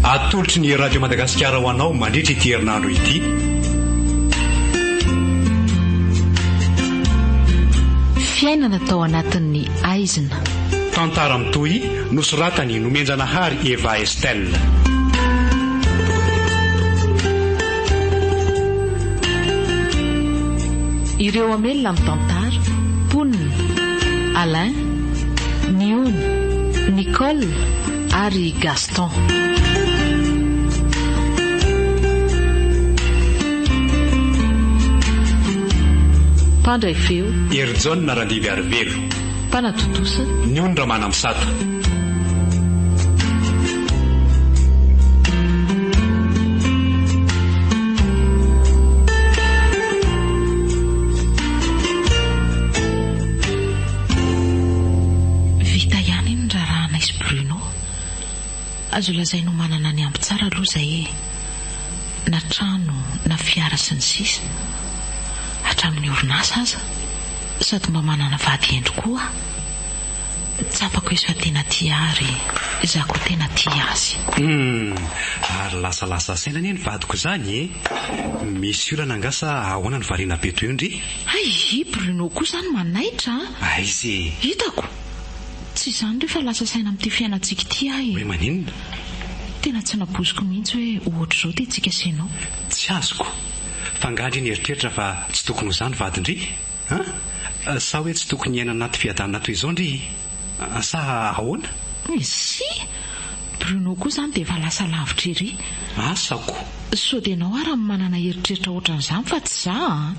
Atolotry ny Radio Madagasikara ho anao mandritra ity herinandro ity. Fiainana tao anatin'ny aizina. Tantara mitohy nosoratany nomenjanahary Eva Estelle. Ireo hamelona mitantara, mponina, Alain, Niony, Nicole ary Gaston. Mpandray feo, Hery Jaona Radiviarivelo. Mpanatontosa. Ny ony Ramanampisata. Azo lazaina ho manana ny ampy tsara aloha izahay e! Na trano, na fiara sy ny sisa. Hatramin'ny orinasa aza. Sady mba manana vady hendry koa aho. Tsapako izy fa tena tia ahy ary izaho koa tena tia azy. Humm! Ary lasalasa saina anie ny vadiko izany e! Misy olana angaha sa ahoana no variana be toy io ndry? Hay i Bruno koa izany manaitra a! Aiza e! Hitako! Tsy izany re fa lasa saina amin'ity fiainantsika ity aho e! Hoe maninona? Tena tsy nampoiziko mihitsy hoe ohatr'izao ity tsika sy ianao. Tsy azoko! F'angaha-ndry nieritreritra fa tsy tokony ho zany vadin-dry? An? Sa hoe tsy tokony hiaina anaty fiadanana toy izao ndry? Sa ahoana? Isi! Bruno koa izany dia efa lasa lavitra ery. Asa ko! Sao dia ianao ary no manana eritreritra ohatran'izany fa tsy za an!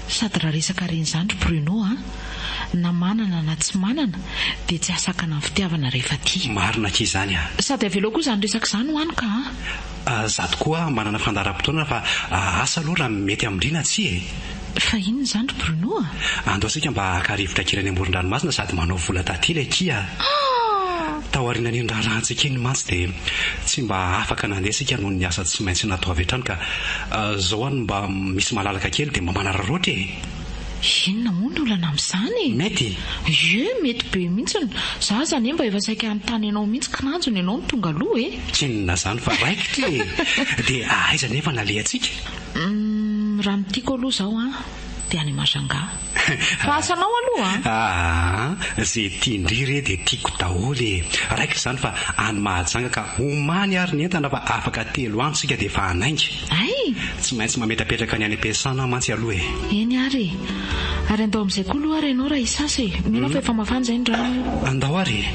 Sady raha resaka reny izany ry Bruno an! Na manana na tsy manana dia tsy ahasakana ny fitiavana rehefa tia. Marina akia izany an! Sady avelao koa izany resaka izany ho any ka an! Za tokoa manana fandaharam-potoana fa asa aloha raha mety amin-dry na tsia e! Fa inona izany ry Bruno a? Andao isika mba haka rivotra kely any amoron-dranomasina sady manao vola taty ilay akia a! Taorianan'iny raharahantsika iny mantsy dia tsy mba afaka nandeha isika noho ny asa tsy maintsy natao avy hatrany ka! Zao any mba misy malalaka kely dia mba manararaotra e! Inona moa ny olana amin'izany e? Mety? Ie, mety be mihitsiny! Za aza anie mba efa saika hanontany anao mihitsy kinanjo ny anao no tonga aloha e! Tsinona izany fa raikitra e! Dia aiza anefa no alehantsika? Umm, raha ny tiako aloha izao an, dia any Majanga. Fa asanao aloha an! Aa, izay tian-dry re dia tiako daholo e! Raikitra izany fa any Mahajanga ka omany ary ny entana fa afaka telo andro isika dia efa hanainga. Hay! Tsy maintsy mametrapetraka ny any am-piasana aho mantsy aloha e! Eny ary e! Ary andao amin'izay koa aloha ary ianao raha hisasa e! Mino aho fa efa mafana izay ny rano eo! Andao ary e!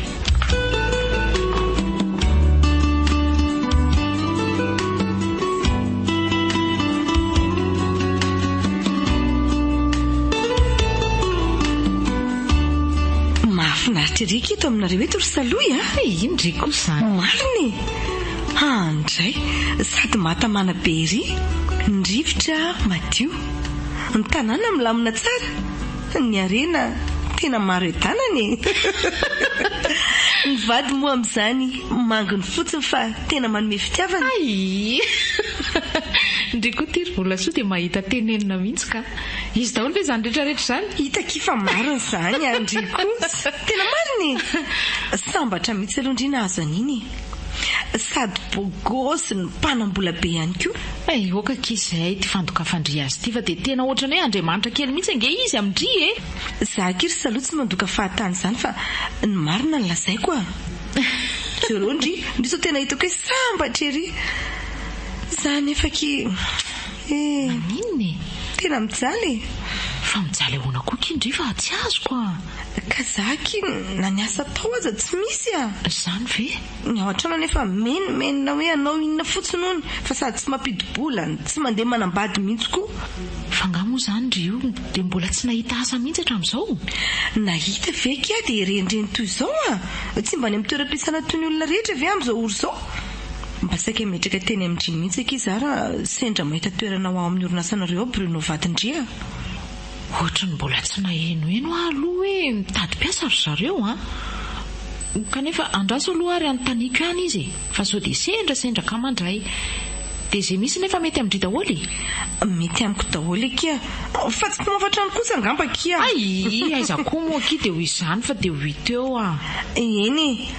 Mahafinaritra ery ry Kito aminareo eto ry Salohy a! He! Inona re kosa izany? Marina e! Ha ndray! Sady mahatamana be ery! Ny rivotra madio. Ny tanàna milamina tsara. Ny harena tena maro edanana e! Ny vady moa amin'izany manginy fotsiny fa tena manome fitiavana. Ayii! Ndry koa ty ry Volasoa dia mahita tenenina mihitsy ka! Izy daholo ve izany rehetra rehetra izany? Hita akia fa marina izany an ndry kosa! Tena marina e! Sambatra mihitsy aloha ndry nahazo an'iny e! Sady bôgôsy no mpanam-bola be ihany koa. Hey, ok akia zahay ty fandokafan-dry azy ty fa dia tena ohatran'ny hoe Andriamanitra kely mihitsy ange izy amin-dry e! Za akia ry Salo tsy mandoka fahatany zany fa ny marina no lazaiko a! Jereo ndry, ndry sao tena hitako hoe sambatra ery za nefa akia. Maninona e? Tena mijaly e! Fa mijaly ahoana koa ky ndry fa tsy azoko a! Ka za ky na ny asa atao aza tsy misy a! Zany ve? Ny ao an-trano anefa menomenona hoe hanao inona fotsiny hono fa sady tsy mampidi-bola no tsy mandeha manambady mihitsy koa. Fa angaha moa zany ry io dia mbola tsy nahita asa mihitsy hatramin'izao? Nahita ve ky aho dia renireny toy izao a! Tsy mba any amin'ny toeram-piasana toy ny olona rehetra ve amin'izao ora izao? Mba saika himetraka teny amin dry mihitsy akia za ra sendra mahita toerana ho ao amin'ny orinasanareo ao Bruno Vadindry a! Ohatran'ny mbola tsy nahenoheno aho aloha hoe mitady mpiasa ry zareo an! Kanefa andraso aloha ary anontaniako ihany izy e! Fa sao dia sendra sendra ka mandray! Dia izay misy nefa mety amin-dry daholo e! Mety amiko daholo akia fa tsy mpamafatra any kosa angamba akia! Ayii aiza koa moa akia dia ho izany fa dia ho hita eo an! Eny e!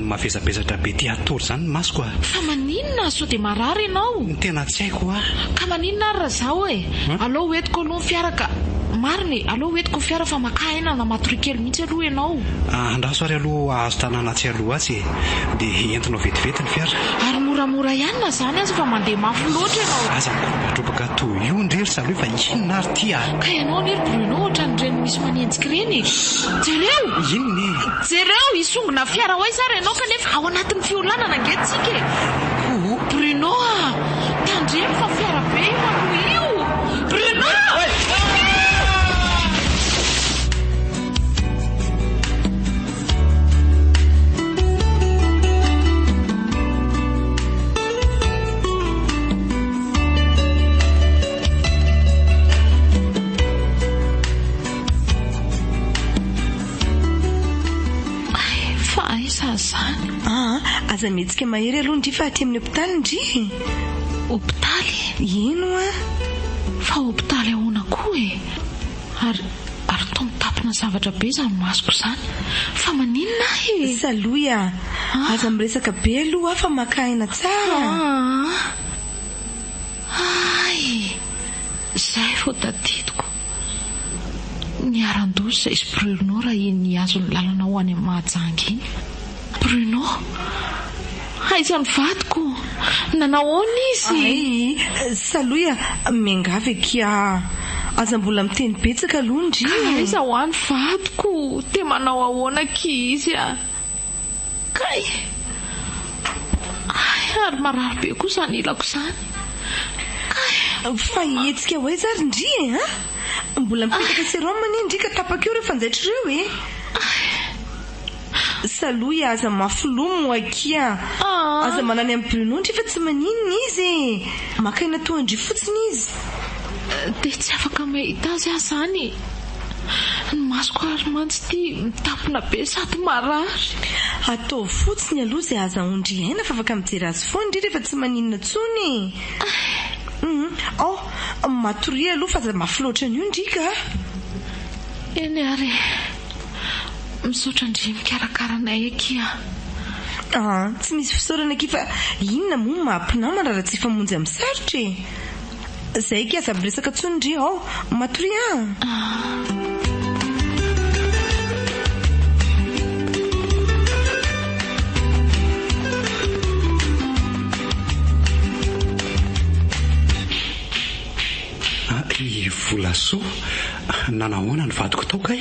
Mavesabesatra be tia hatory zany ny masoko ah. Fa maninona ah, sao dia marary ianao? Ny tena tsy haiko ah. Ka maninona ary raha zaho e? Aleo ho entiko aloha ny fiara ka. Marina e, aleo ho entiko ny fiara fa makà aina na matoria kely mihitsy aloha ianao. Andraso ary aloha hahazo tanàna atsy aloha atsy e. Dia entinao vetivety ny fiara. Ary moramora ihany na zany aza fa mandeha mafy loatra ianao. Aza mikoropadrobaka toy io ndry ry salohy fa inona ary ity ah. Ka ianao anie ry Bruno ohatran'ireny misy manenjika ireny e. Jereo! Inona e? Jereo, hisongona fiara ho aiza ary ianao kanefa ao anatin'ny fiolanana ange tsika e! Ohh! Bruno a! Tandremo fa fiara be io aloha io! Bruno! Fa aiza zany? Aa, aza mihetsika mahery aloha ndry fa aty amin'ny hopitaly ndry e! Hopitaly? Ino an? Fa hopitaly ahoana koa e? Ary, ary toa mitapina zavatra be izany masoko izany. Fa maninona ahy e? Salohy a! Aza miresaka be aloha aho fa maka aina tsara. Aa! Hay e! Izay vao tadidiko. Niharan-doza izy Bruno raha iny nihazo ny lalana ho any amin'ny Mahajanga iny. Bruno, Aiza ny vadiko? Nanao ahoana izy? Ay, Salohy a! Miangavy akia a! Aza mbola miteny betsaka aloha ndry e! Ka aiza hoa ny vadiko? Te manao ahoana akia izy a! Kay! Hay ary marary be koa izany ilako izany. Kay! Fa hihetsika ho aiza ary ndry e a! Mbola mipetaka sérum anie ndry ka tapaka eo ireo fanjaitra ireo e! Kay! Salohy a, aza mafy loha moa akia! Aza manany amin'i Bruno ndry fa tsy maninona izy e! Maka aina toa an-dry fotsiny izy. Dia tsy afaka mahita azy aho izany e! Ny masoko ary mantsy ity mitapona be sady marary. Ataovy fotsiny aloha izay ahazahoan-dry Aina fa afaka mijery azy foana ry rehefa tsy maninona intsony e. Hum, oh, matoria aloha fa aza mafy loatra an'io ndrika a. Eny ary e. Misaotra an-dry mikarakara anay akia a. Ah, tsy misy fisaorana akia fa inona moa ny maha mpinamana raha tsy hifamonjy amin'ny sarotra e. Zay eky aza miresaka tsony ndry hao matoria an! I Volasoa nanahoana ny vadiko tao kay?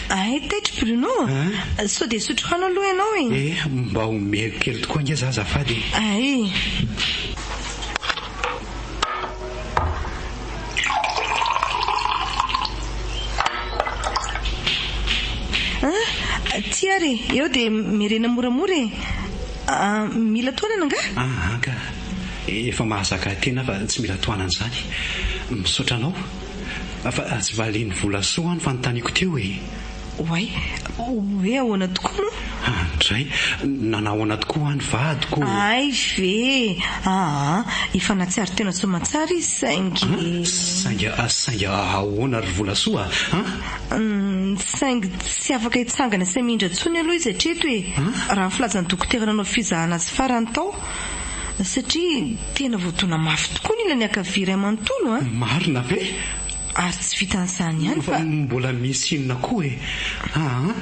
Hay taitra Bruno a! Sao dia hisotro rano aloha ianao e! Eh, mba omeko kely tokoa ange za azafady e! Hay! Aty ary e! Eo dia merena moramora e! Mila tohanana angaha? Ah, anka! Efa mahazaka ahy tena aho fa tsy mila tohanana izany. Misaotra anao. Fa tsy valian'ny volasoa ho'a ny fanontaniako teo e! Oay, hoe ahoana tokoa moa? Andray, nanao ahoana tokoa ho'a ny vadiko? Hay ve! Aa! efa nahatsiaro tena soamatsara izy saingy. Saingy, saingy ahoana ry Volasoa a? Hum, saingy tsy afaka hitsangana sy hamindra intsony aloha izy hatreto e! raha ny filazan'ny dokotera nanao fizahana azy farany tao, satria tena voadona mafy tokoa ny ilany ankavia iray manontolo a! Marina ve? Ary tsy vitan'izany ihany fa. Mbola misy inona koa e? Aa!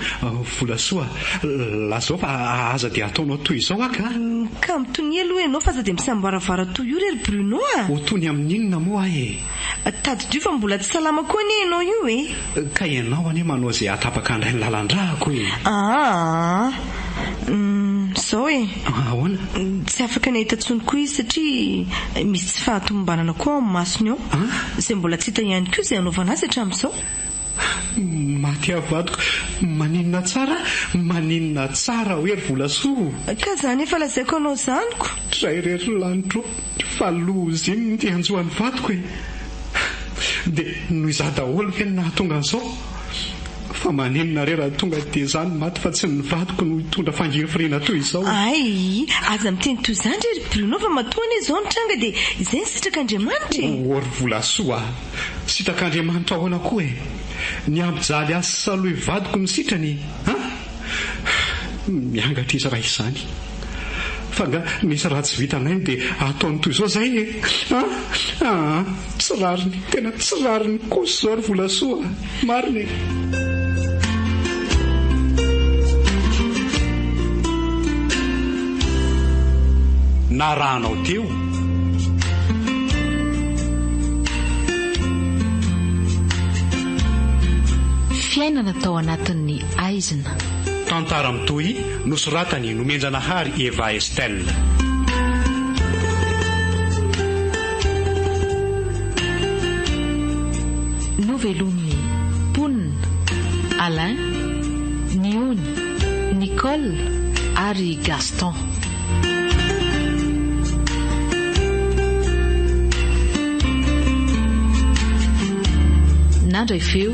Volasoa, lazao fa aza dia ataonao toy izao aky a! Ka mitonia aloha ianao fa aza dia misamboaravara toy io re ry Bruno a! Ho toy ny amin'inona moa aho e? Tadidio fa mbola tsy salama koa anie ianao io e! Ka ianao anie manao izay hahatapaka an'ilay ny lalan-drahako e! Aa! Izao e. Ahoana? Tsy afaka nahita intsony koa izy satria misy tsy fahatomombanana koa ao amin'ny masony ao, izay mbola tsy hita ihany koa izay hanaovana azy hatramin'izao. Maty aho vadiko, maninona tsara, maninona tsara hoe ry Volasoa o! Ka izany efa lazaiko anao izany ko! Ray irery lanitra o! Fa lozim dia hanjo an'i vadiko e! Dia noho izaho daholo ve no nahatonga an'izao? Fa maninona re raha tonga dia za no maty fa tsy ny vadiko no hitondra fangirifiriana toy izao? Ayy aza miteny toy izany re ry Bruno fa matoa anie izao ny tranga dia izay ny sitrak'Andriamanitra e! Oh ry Volasoa a! Sitrak'Andriamanitra ahoana koa e! Ny hampijaly ahy sy salohy vadiko no sitrany an! Miangatra izy raha izany. Fa nga misy raha tsy vitanay dia ataony toy izao zay e! Ah ah tsy rariny, tena tsy rariny kosa izao ry Volasoa a! Marina e! narahanao teo. Fiainana tao anatin'ny aizina. Tantara mitohy nosoratan'i Nomenjanahary Eva Estelle. Novelomin'ny mponina, Alain, Niony, Nicole ary Gaston. Nandray feo.